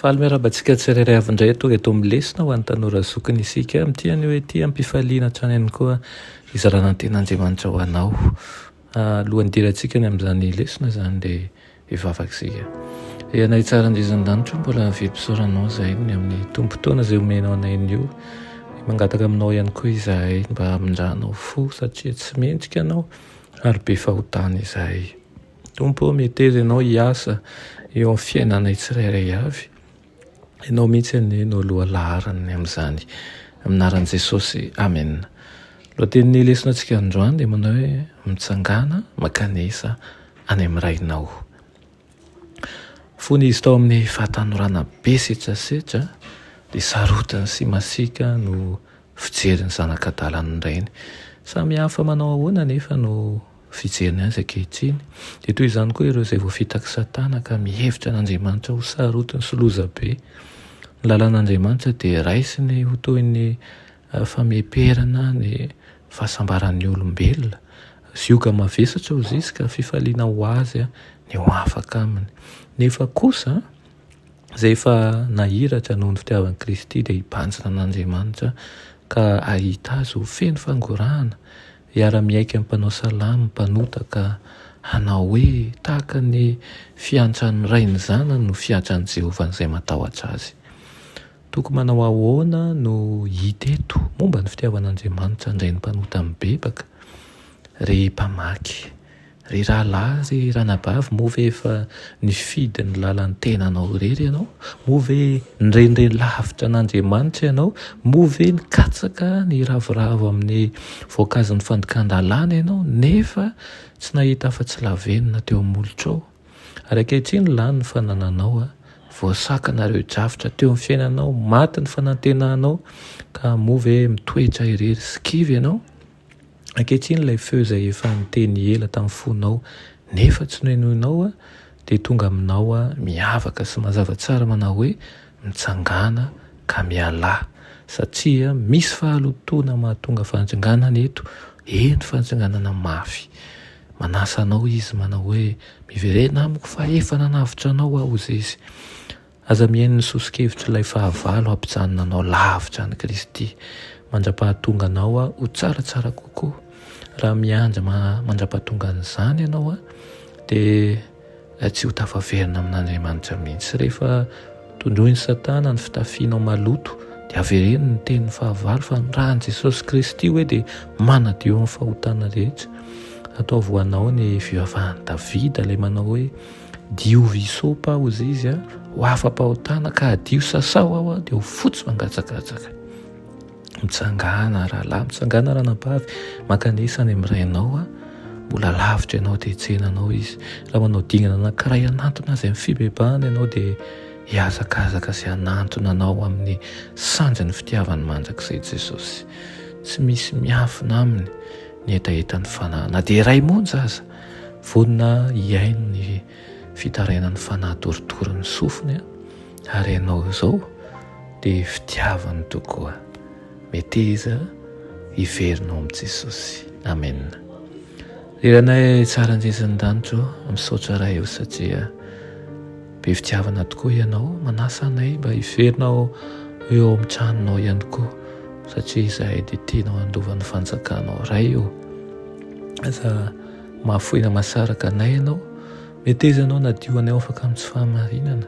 Faly miarahaba antsika tsirairay avy indray tonga eto amin'ny lesona ho an'ny tanora zokiny isika amin'ity anio ity am-pifaliana hatrany ihany koa hizarana ny tenan'Andriamanitra ho anao. Alohan'ny hidirantsika ny amin'izany lesona izany dia hivavaka isika. Ry anay tsara andriasan-danitra mbola avia mpisaoranao izay ny amin'ny tombon-taona izay omenao anay anio. Mangataka aminao ihany koa izahay mba hamindranao fo satria tsy mendrika anao ary be fahotana izahay. Tompo ô, meteza Ianao hiasa eo amin'ny fiainanay tsirairay avy. Ianao mihitsy anie no aloha laharany amin'izany. Amin'ny anaran'i Jesosy, Amena. Ny lohatenin'ny lesonatsika androany dia manao hoe Mitsangàna mankanesa any amin'ny Rainao. Fony izy tao amin'ny fahatanorana be setrasetra dia sarotiny sy masiaka no fijery ny zanak'adalan'ny rainy. Samy hafa manao ahoana anefa no Fijeriny azy ankehitriny, dia toy izany koa ireo izay voafitak'i Satana ka mihevitra an'Andriamanitra ho sarotiny sy loza be. Ny lalan'Andriamanitra dia raisiny ho toy ny fameperana ny fahasambaran'ny olombelona. Zioga mavesatra hozy izy ka fifaliana ho azy ny ho afaka aminy. Nefa kosa, izay efa nahiratra noho ny fitiavan'i Kristy dia hibanjina an'Andriamanitra ka hahita azy ho feno fangorahana. Hiara-miaiky amin'ny mpanao salamo mpanota ka hanao hoe tahaka ny fiantran'ny ray ny zanany no fiantran'i Jehovah an'izay matahotra azy. Tokony manao ahoana no hita eto momba ny fitiavan'Andriamanitra handray ny mpanota mibebaka? Ry mpamaky, Ry rahalahy ry ranabavy moa ve efa nifidy ny lalan'ny tenanao irery ianao? Moa ve nirenireny lavitra an'Andriamanitra ianao? Moa ve nikatsaka niravoravo amin'ny voankazon'ny fandikan-dalàna ianao nefa tsy nahita afa-tsy lavenona teo amin'ny molotrao? Ary ankehitriny lany ny fanananao, voasakana ireo drafitra teo amin'ny fiainanao, maty ny fanantenanao ka moa ve mitoetra irery sy kivy ianao? Ankehitriny ilay feo izay efa niteny ela tamin'ny fonao nefa tsy nohenoinao dia tonga aminao miavaka sy mazava tsara manao hoe mitsangàna ka mialà satria misy fahalotoana mahatonga fantsinganana eto, eny fantsinganana mafy. Manasa anao izy manao hoe miverena amiko fa efa nanavotra anao aho hozizy. Aza mihaino ny soso-kevitr'ilay fahavalo hampijanona anao lavitra an'i Kristy. Mandra-pahatonga anao ho tsaratsara kokoa. Raha miandry mandra-pahatongan'izany ianao, dia tsy ho tafaverina amin'Andriamanitra mihitsy. Rehefa tondroin'i Satana ny fitafianao maloto, dia avereno ny tenin'ny fahavalo fa ny ran'i Jesosy Kristy hoe dia manadio ny fahotana rehetra. Ataovy ho anao ny fivavahan'i Davida, ilay manao hoe. Diovy hisopa ao izy izy ho afa-pahotana ka adio sasao ao dia ho fotsy mangatsakatsaka. Mitsangana rahalahy, mitsangana ranabavy, mankanesa any amin'ny rainao a. Mbola lavitra ianao dia tsena anao izy. Raha manao dingana anankiray hanantona azy amin'ny fibebahana ianao dia hihazakazaka sy hanantona anao amin'ny sanjin'ny fitiavany mandrakizay Jesosy. Tsy misy miafina aminy ny hetahetan'ny fanahy na dia iray monja aza. Vonona hihaino ny fitarainan'ny fanahy torotoro ny sofiny ary ianao izao dia fitiavany tokoa. Meteza hiverina ao amin'i Jesosy. Amen. Ry Ranay tsara an-jezin'ny danitra ô, misaotra Ray ô satria Be fitiavana tokoa ianao, manasa anay mba hiverina ho eo amin'ny tranonao ihany koa, satria izahay dia tianao handova ny fanjakanao. Ray ô, aza mahafoy na mahasaraka anay ianao, meteza anao nadio anay afaka amin'ny tsy fahamarinana,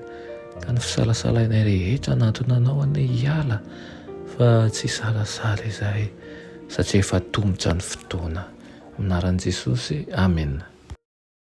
ka ny fisalasalainay rehetra hanantona anao anie hiala, fa tsy hisalasala izahay, satria efa tomotra ny fotoana. Amin'ny anaran'i Jesosy, amena.